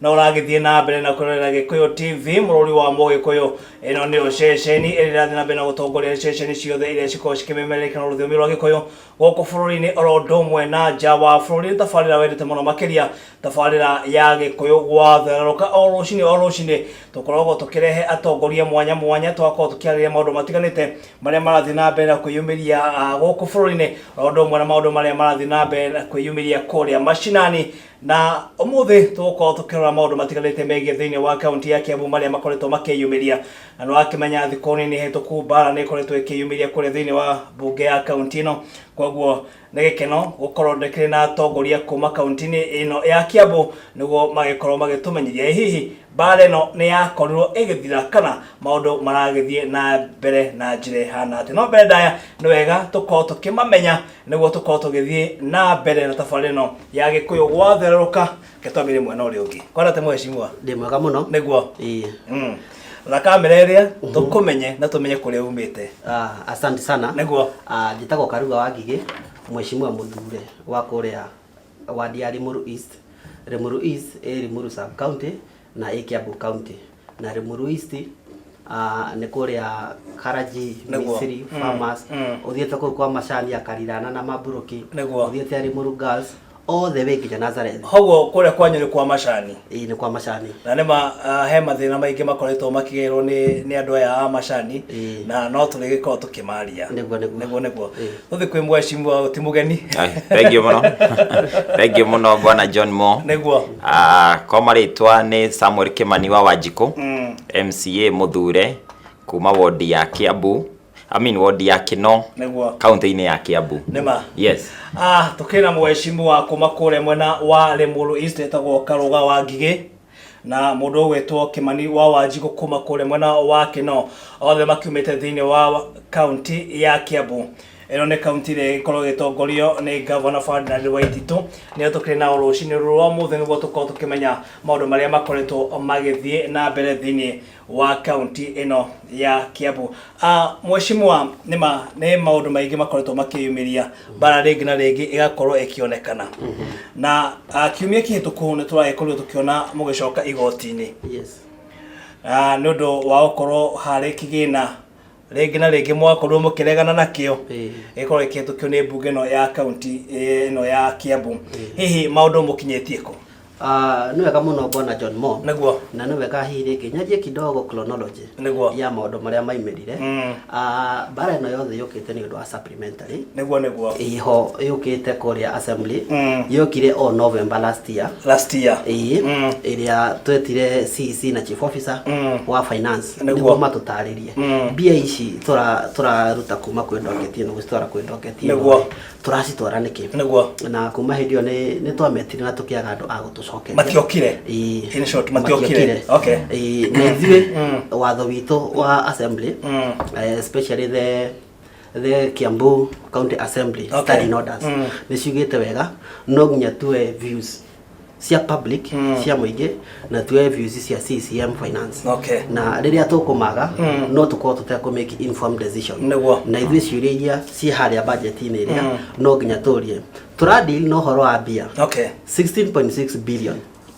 na ũragĩthiĩ na mbere na kũrorera gĩkũyũ tv mũrũri wa mũgĩkũyũ ĩno nĩyo ceceni ĩrĩa ĩrathiĩ na mbere na gũtongoria ceceni ciothe iria cikoragwo cikĩmemerekia na rũthiomi rwa gĩkũyũ gũkũ bũrũri-inĩ oro ũndũ ũmwe na nja wa bũrũri nĩ tabarĩra wendete mũno makĩria tabarĩra ya gĩkũyũ gwathererũka o rũcinĩ o rũcinĩ tũkoragwo tũkĩrehe atongoria mwanya mwanya twakorwo tũkĩarĩrĩria maũndũ matiganĩte marĩa marathiĩ na mbere na kwĩyumĩria ah, gũkũ bũrũri-inĩ oro ũndũ ũmwe na maũndũ marĩa marathiĩ na mbere na kwĩyumĩria kũrĩa macinani Na ũmũthĩ tũgũkorwo tũkĩrora maũndũ matiganĩte megiĩ thĩinĩ wa kaunti ya Kiambu marĩa makoretwo makĩyumĩria na nĩwakĩmenya thikũ nini hĩtũku mbara nĩ ĩkoretwo ĩkĩyumĩria kũrĩa thĩinĩ wa mbunge ya kaunti ĩno koguo nĩ gĩkeno gũkorwo ndĩkĩrĩ na atongoria kuma kaunti-inĩ ĩno ya Kiambu nĩguo magĩkorwo magĩtũmenyeria ĩ hihi Mbaara ĩno nĩ yakorirwo ĩgĩthira kana maũndũ maragĩthiĩ na mbere na njĩra ĩhana atĩ no mbere ndaya nĩ wega tũkorwo tũkĩmamenya nĩguo tũkorwo tũgĩthiĩ na mbere na tabarĩra ĩno ya gĩkũyũ gwatherũka gĩtwami rĩmwe na ũrĩa ũngĩ kwana atĩ mwecimwa ndĩ mwega mũno nĩguo ĩĩ Mm. na kamera ĩrĩa tũkũmenye na tũmenye kũrĩa umĩte Ah, asante sana Nĩguo. Ah, njĩtagwo karuga wa ngigĩ mwecimua mũthure wa kũrĩa Ward ya Limuru East, Limuru East ĩ Limuru sub county na ĩ Kiambu county na Limuru East ah, nĩ kũrĩa Karaji Nĩguo. Misiri Mm, Farmers mm. ũthiĩte kũu kwa macani ya Karirana na Maburuki Nĩguo. ũthiĩte Limuru Girls all the way nginya Nazareth koguo kũrĩa kwanyu nĩ kwa macani Ĩĩ nĩ kwa macani. Na nĩ ma ah, he mathĩna maingĩ makoretwo makĩgerwo nĩ nĩ andũ aya a macani Ĩĩ. na no tũrĩgĩkorwo tũkĩmaria Nĩguo, nĩguo. nĩguo nĩguo Ĩĩ. tũthiĩ kwĩ mwecimua ti mũgeni Ai, Thengiũ mũno. Thengiũ mũno bwana John Mo. nĩguo Ah, kwa marĩtwa nĩ Samuel Kimani wa Wanjikũ. MCA Muthure kuma wondi ya Kiambu. I mean ward ya Kino Nĩguo. county-inĩ ya Kiambu. Nĩma. Yes. Ah, tukina mweshimu wa kuma kule mwena wa Lemuru East etagwo Karuga wa Ngigĩ na mundu ugwetwo Kimani wa Wanjigu kuma kule mwena wa Kino othe makiumite thiini wa kaunti ya Kiambu ino ni kaunti ria igikorwo gitongorio ni gavana Ferdinand Waititu nio tukiri nao rucini ruru rwa muthi niguo tukorwo tukimenya maundu maria makoretwo magithie na mbere thiini wa kaunti ĩno ya Kiambu. Uh, Mheshimiwa, nĩ ma nĩ maũndũ maingĩ makoretwo makĩyumĩria bara rĩngĩ na rĩngĩ ĩgakorwo ĩkĩonekana na uh, kiumia kĩhĩtũku nĩ tũragĩkorirwo tũkĩona mũgĩcoka igoti-inĩ Yes. Ah, nĩ ũndũ wa gũkorwo harĩ kĩgĩna rĩngĩ na rĩngĩ mwakorirwo mũkĩregana nakĩo gĩkorwo gĩkĩhĩtũkio nĩ mbunge ĩno ya kaunti eh, ĩno ya kiambu hihi maũndũ mũkinyĩtie kũ Ah, nĩ wega mũno bwana john mo nĩguo na nĩ wega hihi rĩngĩ nyanjie kidogo chronology Nĩguo. ya maũndũ marĩa maimirire Mm. Ah, mbara ĩno yothe yũkĩte nĩ ũndũ wa SAPK. Elementary. nĩguo nĩguo Iho yũkĩte kũrĩa assembly Mm. yokire o November last year last year ĩĩ Mm. ĩrĩa twetire CEC na chief officer Mm. wa finance Nĩguo. nĩguo matũtarĩrie Mm. mbia ici tũra- tũraruta kuma kwĩ ndoketi ĩno gũcitwara kwĩ ndoketi ĩno Nĩguo. tũracitwara nĩkĩ nĩguo na kuma hĩndĩ ĩyo nĩ- nĩ twametire na tũkĩaga andũ a gũtũcokeria matiokire Ĩĩ. In short, matiokire. Okay. Ĩĩ, na ithuĩ watho witũ wa assembly Mm. eh, especially the the Kiambu County Assembly Okay. okay. standing orders Mm. nĩ ciugĩte wega no nginya tuwe views cia public Mm. cia mũingĩ na tuwe views cia CCM finance Okay. na rĩrĩa tũkũmaga Mm. no tũkorwo tũtekũ make informed decision Nĩguo. na ithuĩ ciũria iria ciĩ harĩa budget-inĩ ĩrĩa Mm. no nginya tũrie tũradeal na ũhoro wa mbia Okay. 16.6 billion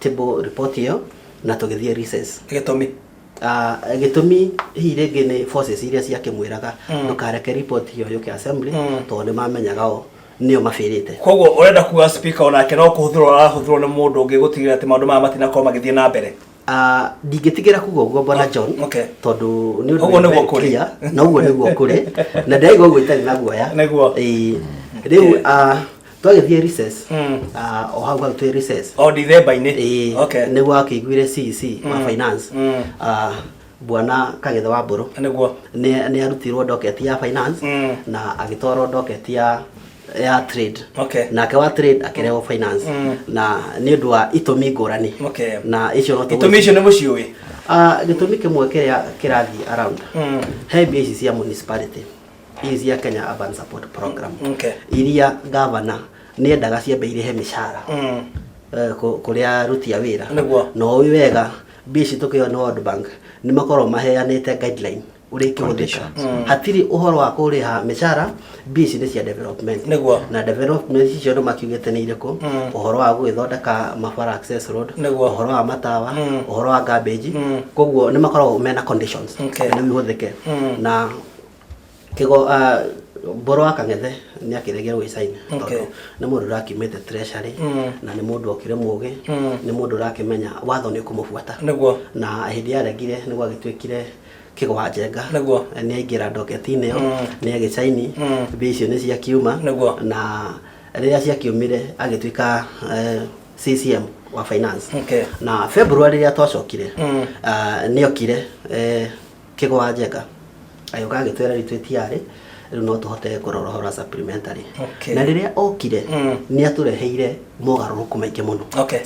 table report ĩyo na tũgĩthiĩ recess gĩtũmi Ah, gĩtũmi hihi rĩngĩ nĩ forces iria ciakĩmwĩraga ndũkareke report ĩyo yũke assembly tondũ nĩ mamenyaga o nĩo mabĩrĩte koguo ũrenda kuga speaker onake no kũhũthĩrwo arahũthĩrwo nĩ mũndũ ũngĩ gũtigĩrĩra atĩ maũndũ maya matinakorwo magĩthiĩ na mbere Ah, ndingĩtigĩra kuga ũguo bwana john okay. tondũ nĩ ũndũ Ũguo wĩ nĩguo very kũrĩ. clear, na ũguo nĩguo kũrĩ na ndĩraigua ũguo itarĩ na guoya Nĩguo. Ĩĩ. rĩu ah, twagĩthiĩ recess Mm. ah, o hau hau twĩ recess o ndithemba-inĩ Eh, okay nĩguo akĩiguire CEC wa Mm. finance Mm. ah, bwana kagetha wa mbũrũ nĩguo nĩ nĩ arutirwo docket ya finance Mm. na agĩtwarwo docket ya ya trade okay nake wa trade akĩrehwo finance Mm. na nĩ ũndũ wa itũmi ngũrani okay na icio no itũmi icio nĩ mũciũĩ Ah, gĩtũmi kĩmwe kĩrĩa kĩrathiĩ around Mm. he mbia ici cia municipality fees ya Kenya Urban Support Program Okay. iria gavana nĩ endaga ciambe irĩhe mĩcara Mm. eh, kũ- kũrĩa aruti a wĩra Nĩguo. na ũĩ wega mbia ici tũkĩona World Bank nĩ makorwo maheanĩte guideline ũrĩa ikĩhũthĩka hatirĩ ũhoro wa kũrĩha mĩcara mbia ici nĩ cia development Nĩguo. na development icio andũ makiugĩte nĩ irĩkũ Mm. ũhoro wa gũgĩthondeka mabara access road Nĩguo. ũhoro wa matawa Mm. ũhoro wa garbage Mm. koguo nĩ makoragwo mena conditions Okay. nĩguo ihũthĩke Mm. na Kigo ah, Mbũrũ wa Kang'ethe nĩ akĩregire gwĩ China Okay. tondũ nĩ mũndũ ũrakiumĩte treasury Mm. na nĩ mũndũ okĩrĩ mũgĩ Mm. nĩ mũndũ ũrakĩmenya watho nĩ ũkũmũbuata Nĩguo. na hĩndĩ yaregire nĩ gwagĩtuĩkire kĩgo wa njenga Nĩguo. nĩ aingĩra ndoketi-inĩ ĩyo Mm. nĩ agĩcaini Mm. mbia icio nĩ ciakiuma Nĩguo. na rĩrĩa ciakiumire agĩtuĩka eh, CCM wa finance Okay. na February rĩrĩa twacokire Mm. ah, nĩ okire eh, Kĩgwa njega agĩũka agĩtwĩra rĩu twĩtiarĩ rĩu no tũhote kũrora ũhoro wa supplementary Okay. na rĩrĩa okire Mm. nĩ atũreheire mogarũrũku maingĩ mũno okay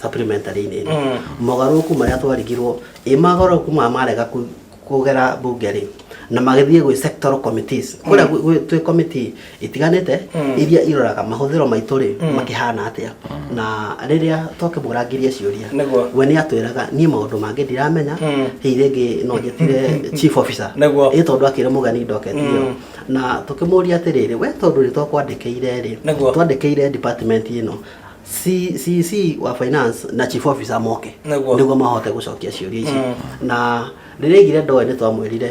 supplementary-inĩ ĩno Mm. mogarũrũku marĩa twarigirwo ĩ mogarũrũku maya marega ku- kũgera bunge rĩ na magĩthiĩ gwĩ sectoral committees kũrĩa gwĩ- gwĩ- twĩ committee itiganĩte iria iroraga mahũthĩro maitũ rĩ makĩhana atĩa na rĩrĩa twakĩmũrangirie ciũria Nĩguo. we nĩ atwĩraga niĩ maũndũ mangĩ ndiramenya hihi rĩngĩ no njĩtire chief officer Nĩguo. ĩ tondũ akĩrĩ mũgeni ndoketio na tũkĩmũria atĩrĩrĩ we tondũ nĩ twakwandĩkĩire rĩ Nĩguo. twandĩkĩire department ĩno C- CC wa finance na chief officer moke Nĩguo. nĩguo mahote gũcokia ciũria ici na rĩrĩa aigire ndoĩ nĩ twamwĩrire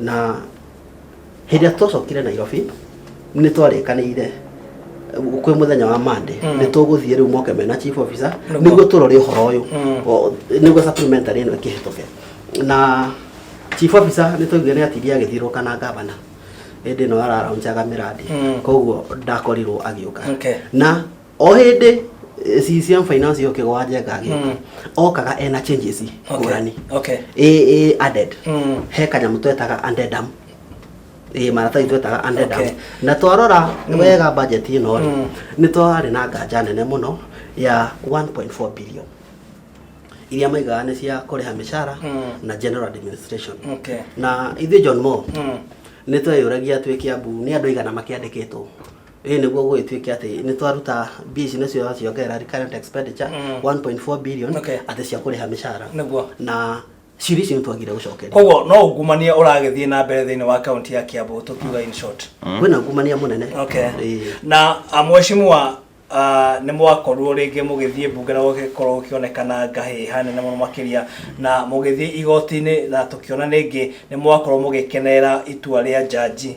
na hĩndĩ ĩrĩa twacokire nairobi nĩ twarĩkanĩire kwĩ mũthenya wa mande nĩ tũgũthiĩ rĩu moke mena chief officer Nĩguo. nĩguo tũrore ũhoro ũyũ O- nĩguo supplementary ĩno ĩkĩhĩtũke na chief officer nĩ twaiguire nĩ atirie agĩthirũka na ngavana hĩndĩ ĩno araraunjaga mĩrandi Mm. koguo ndakorirwo agĩũka Okay. na o hĩndĩ eh, CCM finance yo kĩgwa njega agĩka Mm. okaga ena changes Okay. ngũrani Okay. ĩ ĩ added Mm. he kanyamũ twetaga addendum ĩ maratathi twetaga addendum Okay. na twarora wega budget ĩno rĩ Mm. nĩ twarĩ na nganja nene mũno ya 1.4 billion iria maigaga nĩ cia kũrĩha mĩcara Mm. na general administration Okay. na ithuĩ John Moore Mm. nĩ tweyũragia twĩ Kiambu nĩ andũ aigana makĩandĩkĩtwo ĩĩ nĩguo gũgĩtuĩke atĩ nĩ twaruta mbia ici nĩcio ciongerera recurrent expenditure 1.4 billion Okay. atĩ cia kũrĩha mĩcara Nĩguo. na ciri icio nĩ twagire gũcokeria koguo no ungumania ũragĩthiĩ na mbere thĩinĩ wa kaunti ya kiambu tũkiuga in short kwĩna ngumania mũnene okay. Ĩĩ. na ah, mheshimiwa ah, nĩ mwakorirwo rĩngĩ mũgĩthiĩ mbunge na gũgĩkorwo gũkĩonekana ngahĩ hanene mũno makĩria na mũgĩthiĩ igoti-inĩ na tũkĩona rĩngĩ nĩ mwakorwo mũgĩkenerera itua rĩa njanji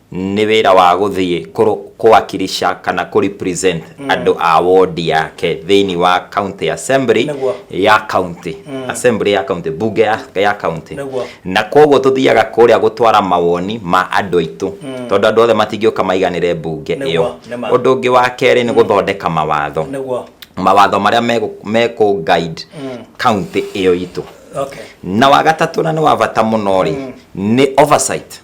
nĩ wĩra wa gũthiĩ kũwakilisha kana kũ represent mm. andũ a wodi yake thĩinĩ wa county assembly Nagua. ya county mm. assembly ya county bunge ya, ya county Nagua. na koguo tũthiaga kũrĩa gũtwara mawoni ma andũ aitũ mm. tondũ andũ othe matingĩũka maiganĩre bunge ĩyo ũndũ ũngĩ wa kerĩ nĩ mm. gũthondeka mawatho Nagua. mawatho marĩa mekũ guide mm. county ĩyo itũ okay. na wagatatũ na nĩ wa bata mũno rĩ mm. nĩ oversight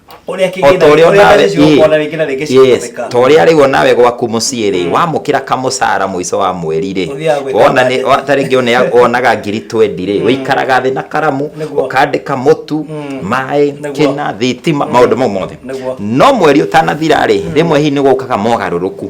Ũrĩa O kĩgĩna- ta ũrĩa ũrĩa onawe mbeca icio ũkuona rĩngĩ na rĩngĩ ĩĩ, yes, cihũthĩka. ta ũrĩa rĩu onawe gwaku mũciĩ rĩ wamũkĩra kamũcara mũico wa mweri rĩ Ũthiaga gwĩka wona nĩ- wa- ta rĩngĩ one- wonaga ngiri twendi rĩ ũikaraga thĩ na karamu Nĩguo. ũkandĩka mũtu maĩ Nĩguo. kĩna thitima maũndũ mau mothe Nĩguo. no mweri ũtanathira rĩ rĩmwe hihi nĩ gũkaga mogarũrũku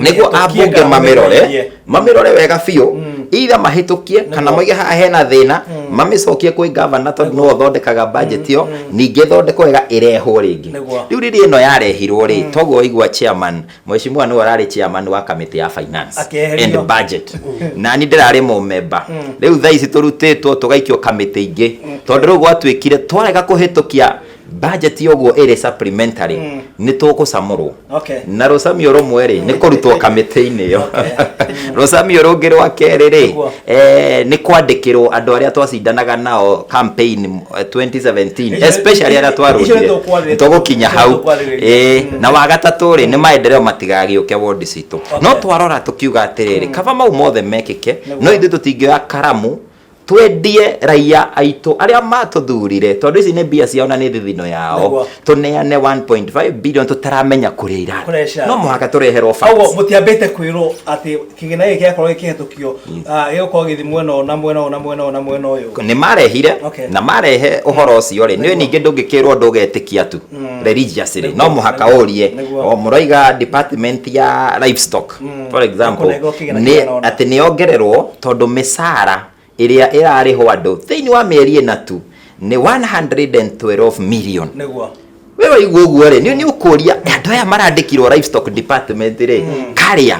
niguo ambunge mamirore mamirore wega biũ mm. itha mahĩtũkie kana moige haha hena thĩna mm. mamĩcokie kwĩ gavana tondũ nĩwe ũthondekaga budget ĩyo mm, ningĩ thondeko wega ĩrehwo rĩngĩ rĩu riri ĩno yarehirwo rĩ toguo waigua chairman mheshimiwa nĩwe ararĩ chairman wa kamĩtĩ ya finance and budget na niĩ ndĩrarĩ mũmemba rĩu thaa ici tũrutĩtwo tũgaikio kamĩtĩ ingĩ tondũ rĩu gwatuĩkire twarega kũhĩtũkia budget yoguo ĩrĩ supplementary mm. nĩ tũgũcamũrwo okay. na rũcamio rũmwe rĩ nĩ kũrutwo kamĩtĩ-inĩ ĩyo rũcamio rũngĩ rwa kerĩ rĩ eh, nĩ kwandĩkĩrwo andũ arĩa twacindanaga nao campaign 2017 eh, especially arĩa twarutire tũgũkinya hau eh, mm. na wagatatũ rĩ nĩ maendereo matigagĩũke ward citũ no twarora tũkiuga atĩrĩrĩ mm. kaba mau mothe mekĩke no ithuĩ tũtingĩoya karamu twendie raiya aitũ arĩa matũthurire tondũ ici nĩ mbia ciao na nĩ thithino yao Nĩguo. tũneane 1.5 billion tũtaramenya kũrĩa irarĩ Kũrecia. no mũhaka tũreherwo facts. Koguo mũtiambĩte kwĩrwo atĩ kĩgĩna gĩkĩ gĩakorwo gĩkĩhetũkio ah, gĩgũkorwo gĩthi mwena ũyũ na mwena ũyũ na mwena ũyũ na mwena ũyũ nĩ marehire Okay. na marehe ũhoro ũcio rĩ nĩ ningĩ ndũngĩkĩrwo ũndũ ũgetĩkia tu religiously no mũhaka ũrie Nĩguo. o mũroiga department ya livestock mm. for example nĩ atĩ nĩ ongererwo tondũ mĩcara ĩrĩa ĩrarĩhwo andũ thĩinĩ wa mĩeri ĩna tu nĩ 112 million nĩguo we waigua ũguo rĩ nĩ ũkũria andå aya marandĩkirwo livestock department rĩ mm. karĩa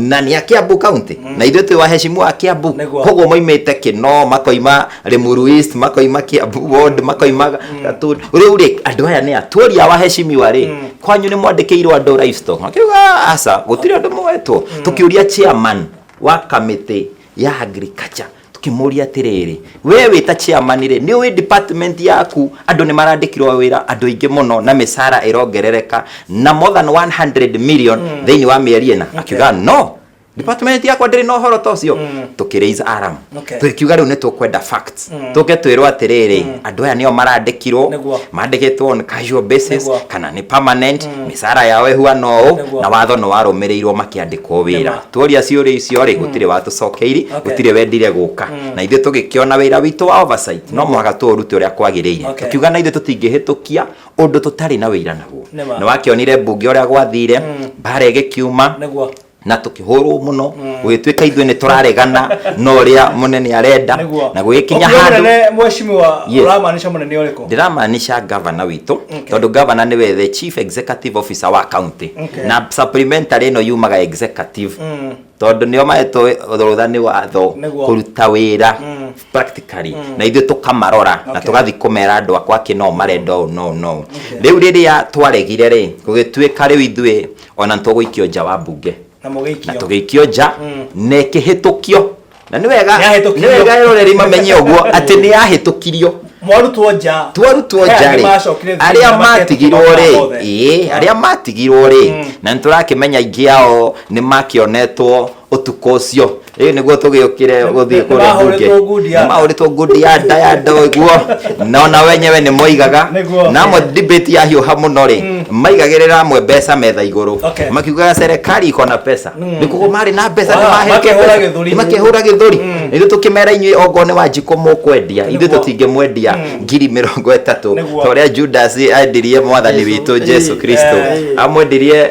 na nä a kä ambu kauntä mm. na ithuä twä wahecimu wa kä ambu koguo moimä te kä no makoima Limuru East makoima Kiambu Ward makoima Gatũndũ rĩu rĩ andũ aya nĩ atũria wa heshimiwa rĩ kwanyu nĩ mwandĩkĩirwo andũ livestock makiuga aca gũtirĩ andũ moetwo tũkĩũria chairman wa kamĩtĩ ya agriculture tũkĩmũria atĩrĩrĩ we wĩ ta chairman rĩ nĩ ũĩ department yaku andũ nĩ marandĩkirwo wĩra andũ aingĩ mũno na mĩcara ĩrongerereka na more than 100 million thĩinĩ wa mĩeri ĩna akiuga no department yakwa ndĩrĩ na ũhoro ta ũcio tũkĩraise alarm Okay. tũkiuga rĩu nĩ tũkwenda facts tũke twĩrwo atĩrĩrĩ andũ aya nĩo marandĩkirwo Nĩguo. mandĩkĩtwo on casual basis Nĩguo. kana nĩ permanent mĩcara yao ĩhuana ũũ Nĩguo. na watho nĩ warũmĩrĩirwo makĩandĩkwo wĩra Nĩma. tuoria ciũria icio rĩ gũtirĩ watũcokeiri Okay. gũtirĩ wendire gũka na ithuĩ tũgĩkĩona wĩra witũ wa oversight no mũhaka tũũrute ũrĩa kwagĩrĩire Okay. tũkiuga na ithuĩ tũtingĩhĩtũkia ũndũ tũtarĩ na wĩira naguo Nĩma. nĩ wakĩonire mbunge ũrĩa gwathire mbara ĩgĩkiuma Nĩguo. na tukihurwo muno gugituika ithuĩ nĩ tũraregana na ũrĩa mũnene arenda Nĩguo. na gũgĩkinya Ũkiuga handũ mũnene mheshimiwa Yes. ũramaanisha mũnene ũrĩkũ ndiramaanisha gavana witũ tondũ gavana nĩwe the chief executive officer wa county Okay. na supplementary ĩno yumaga executive tondũ nĩo mahetwo rũtha nĩ watho Nĩguo. kũruta wĩra practically na ithuĩ tũkamarora na Okay. tũgathiĩ kũmera andũ akwa akĩ no marenda ũũ no no rĩu rĩrĩa twaregire rĩ gũgĩtuĩka rĩu ithuĩ ona nĩ tũgũikio nja wa mbunge na na mũgĩikio tũgĩikio nja Mm. na ĩkĩhĩtũkio na nĩ wega Nĩyahĩtũkirio. nĩ wega roreri mamenye ũguo atĩ nĩ yahĩtũkirio mwarutwo nja twarutwo Aya nja nĩ rĩ macokire thukuru arĩa na matigirwo makehĩtũkĩra rĩ mothe. ĩĩ arĩa matigirwo rĩ Mm. na nĩ tũrakĩmenya aingĩ ao nĩ makĩonetwo utuko ucio riu niguo tugiukire guthii kuria bunge Nĩmahũrĩtwo ngundi ya nda. mahũrĩtwo ngundi ya nda ya nda ũguo na ona wenyewe nĩ moigaga Nĩguo. na amwe debate ya hiũha mũno rĩ maigagĩrĩra amwe mbeca metha igũrũ Okay. makiugaga serikali iko na pesa nĩ kuguo marĩ na mbeca nĩ Wa, mahete makehũra pesa. gĩthũri. Nĩ makehũra gĩthũri ithuĩ tũkĩmera inyuĩ ongoo nĩ wanjikũ mũkwendia ithuĩ Nĩguo. tũtingĩmwendia ngiri mĩrongo ĩtatũ Nĩguo. ta ũrĩa judasi endirie mwathani Jesu. witũ jesu Ĩĩ, kristo eh. amwendirie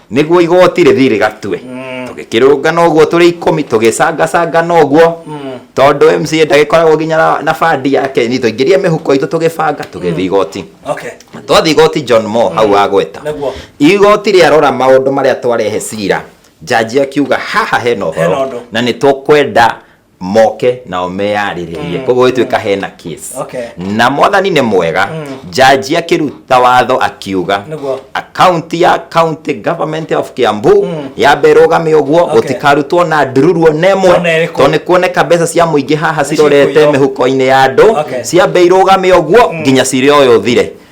nĩguo igoti rĩthiĩ rĩgatue tũgĩkĩrũngana ũguo tũrĩ ikũmi tũgĩcangacangana ũguo tondũ mca ndagĩkoragwo nginya na- na bandi yake ni tũingĩrie mĩhuko itũ tũgĩbanga tũgĩthiĩ igoti okay twathiĩ igoti john mo hau wagweta Nĩguo. igoti rĩarora maũndũ marĩa twarehe cira njanji akiuga haha hena Hena ũhoro ũndũ. na nĩ tũkwenda moke nao meyarĩrĩrie mm. koguo ĩtuĩka mm. hena case okay. na mwathani nĩ mwega mm. jaji akĩruta watho akiuga akaunti ya county government of Kiambu mm. yambe ĩrũgame ũguo okay. gũtikarutwo na ndururu ona ĩmwe tondũ nĩ kuoneka mbeca cia mũingĩ haha cirorete mĩhuko-inĩ ya andũ okay. ciambe irũgame ũguo mm. nginya cirĩ ũyũ thire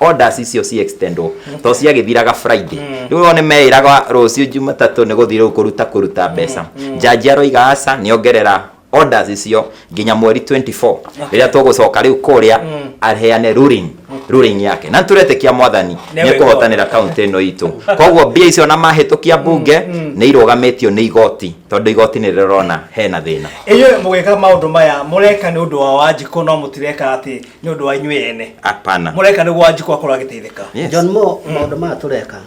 orders icio ci extendwo to ciagĩthiraga friday rĩu wone meĩraga rũciũ jumatatũ nĩ gũthiĩ rĩu kũruta kũruta mbeca njanji aroiga aca nĩongerera orders icio nginya mweri 24 rĩrĩa tũgũcoka rĩu kũrĩa aheane ruling ruling yake na tũretĩkia mwathani Nĩ nĩ kũhotanĩra kaunti ĩno itũ koguo mbia icio na mahĩtũkia mbunge nĩ irũgamĩtio nĩ igoti tondũ igoti nĩ rĩrona hena thĩna inyuĩ mũgĩka maũndũ maya mũreka nĩ ũndũ wa wanjikũ no mũtireka atĩ nĩ ũndũ wa inyuĩ ene hapana mũreka nĩguo wanjikũ akorwo agĩteithĩka Yes. john mo maũndũ maya tũreka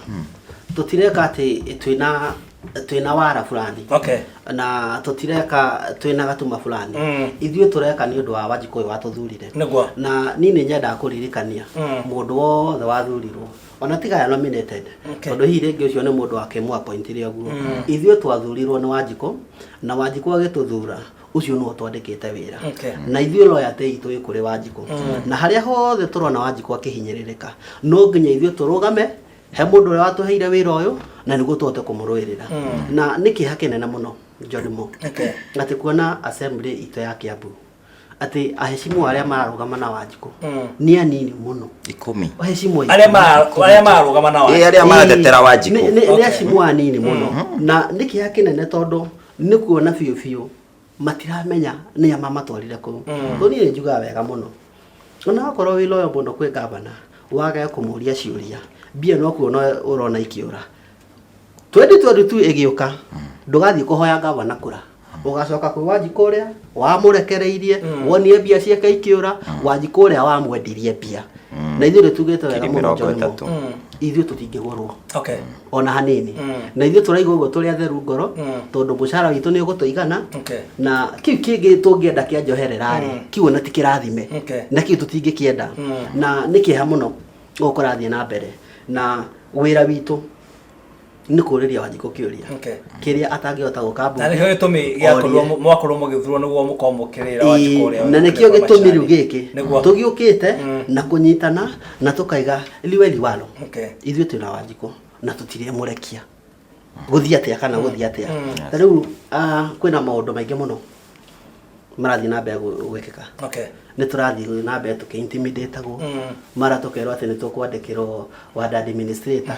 tũtireka atĩ twĩna twĩna wara fulani okay na tũtireka twĩna gatuma fulani Mm. ithuĩ tũreka nĩ ũndũ wa wanjikũ ũyũ watũthurire Nĩguo. na niĩ nĩ nyendaga kũririkania Mm. mũndũ wothe wathurirwo ona tiga ya nominated Okay. tondũ hihi rĩngĩ ũcio nĩ mũndũ wakĩmũapointire ũguo ithuĩ twathurirwo nĩ wanjikũ na wanjikũ agĩtũthura ucio nĩwe twandĩkĩte wĩra Okay. na ithuĩ loya teitũ ĩ kũrĩ wanjikũ na harĩa hothe tũrona wanjikũ akĩhinyĩrĩrĩka no nginya ithuĩ tũrũgame he mũndũ ũrĩa watũheire wĩra ũyũ na nĩguo tũhote kũmũrũĩrĩra na nĩ kĩeha kĩnene mũno njonimo Okay. atĩ kuona assembly itũ ya kĩambu atĩ ahecimu arĩa mararũgama na wanjikũ nĩ anini mũno ikũmi ahecimu aingĩ. arĩa mara- arĩa mararũgama na Ĩ, wanjikũ arĩa maratetera wanjikũ Nĩ- nĩ- nĩ acimu anini mũno na nĩ kĩeha kĩnene tondũ nĩ kuona biũ biũ matiramenya nĩ ama matwarire kũu tondũ niĩ nĩ njugaga wega mũno ona wakorwo wĩ loyo mũno kwĩ ngavana wage kũmũria ciũria mbia no kuona ũrona ikĩũra 2022 ĩgĩũka ndũgathiĩ kũhoya ngavana kũra ũgacoka kwĩ wanji kũrĩa wamũrekereirie wonie mbia ciake ikĩũra wanji kũrĩa wamwendirie mbia na ithuĩ nĩ tugĩte wega Ngiri mũno mĩrongo John Moore. ĩtatũ. ithuĩ tũtingĩgũrwo okay ona hanini Mm. na ithuĩ tũraiga ũguo tũrĩ atheru ngoro Mm. tondũ mũcara witũ nĩ ũgũtũigana Okay. na kiu kĩngĩ tũngĩenda kĩa njoherera rĩ Mm. kiu ona ti kĩrathime Okay. na kiu tũtingĩkĩenda Mm. na nĩ kĩeha mũno ũkũrathiĩ na mbere na wĩra witũ nĩ kũrĩria wanjikũ kĩũria Okay. kĩrĩa atangĩhota gũka mbunge. na nĩkĩo gĩtũmi gĩakorwo Orie. mwakorwo mũgĩthurwo nĩguo mũkorwo mũkĩrĩra Ĩĩ, na nĩkĩo gĩtũmi rĩu gĩkĩ nĩguo tũgĩũkĩte Mm. na kũnyitana na tũkaiga liwe liwalo Okay. ithuĩ twĩ na wanjikũ na tũtirĩmũrekia gũthiĩ atĩa kana gũthiĩ atĩa ta rĩu ah, kwĩna maũndũ maingĩ mũno marathiĩ na mbere gũ- gwĩkĩka Okay. nĩ tũrathiĩ na mbere tũkĩintimidĩtagwo mara tũkerwo atĩ nĩ tũkwandĩkĩrwo wandandi ministrator